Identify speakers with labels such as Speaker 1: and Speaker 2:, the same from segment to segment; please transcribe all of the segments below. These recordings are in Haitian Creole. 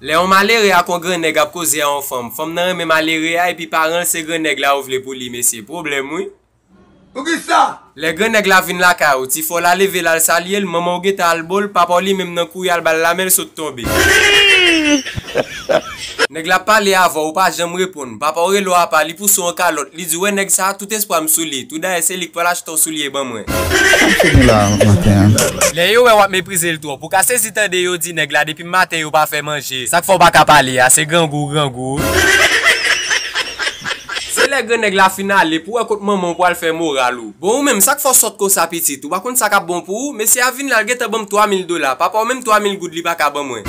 Speaker 1: Lè yon malere ak yon gran nèg ap koze a yon fanm, fanm nan renmen malere a epi paran l se gran nèg la yo vle pou li mesye, pwoblèm wi. Poukisa?
Speaker 2: Lè gran nèg la vin
Speaker 1: lakay ou, ti fò la leve l al salye l, manman w gentan al bo l, papa w li menm nan kouri al ba l lamen l sot tonbe. Nèg la ap pale avè w ou pa janm reponn, papa w rele w apa li pouse w an kalòt, li di w wè nèg sa a tout espwa m sou li, tou dayè se li k pral achte w soulye ban mwen. Sa m sot nou la maten an? Lè yo wè w ap meprize l twòp, ou ka sezi tande yo di nèg la depi. Depi maten yo pa fè manje. Sak fè w paka pale a se grangou ou grangou wi. Se lè gran nèg la fin ale pou wè kot manman w pwal fè moral ou. Bon ou menm sak fè w sòt konsa pitit ou pa konn sa kap bon pou ou mesye a vin la l gentan banm 3000 dola papa w menm 3000 goud li paka ban mwen.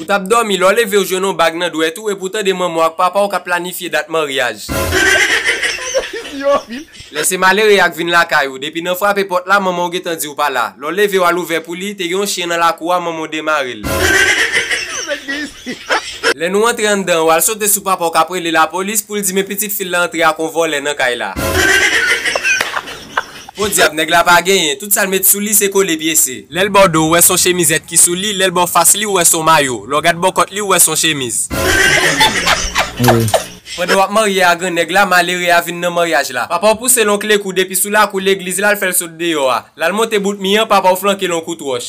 Speaker 1: Ou tap dòmi lè w leve w jwenn on bag nan dwèt ou epi w tande manman w ak papa w kap planifye dat maryaj. Lè se malere a k vin lakay ou, depi nan frape pòt la, manman w gentan di w pa la. Lè w leve w al ouvè pou li, te gen yon chyen nan lakou a, manman w demare l. Lè nou antre anndan, w al sote sou papa w k ap rele lapolis pou l di men pitit fi l la antre ak yon vòlè nan kay la. Podyab, nèg la pa genyen, tout sa l met sou li se kole pyese. Lè l ba w do, w wè s on chemizèt ki sou li, lè l ba w fas li, w wè s on mayo. Lè w gad bò kòt li, w wè s on chemiz. Pandan wap marye a gran nèg la malere a vin nan maryaj la papaw pousel on kle kou depi sou lakou legliz la l fèl sot deyò a lal monte bout mi an papaw flankel on kout wòch.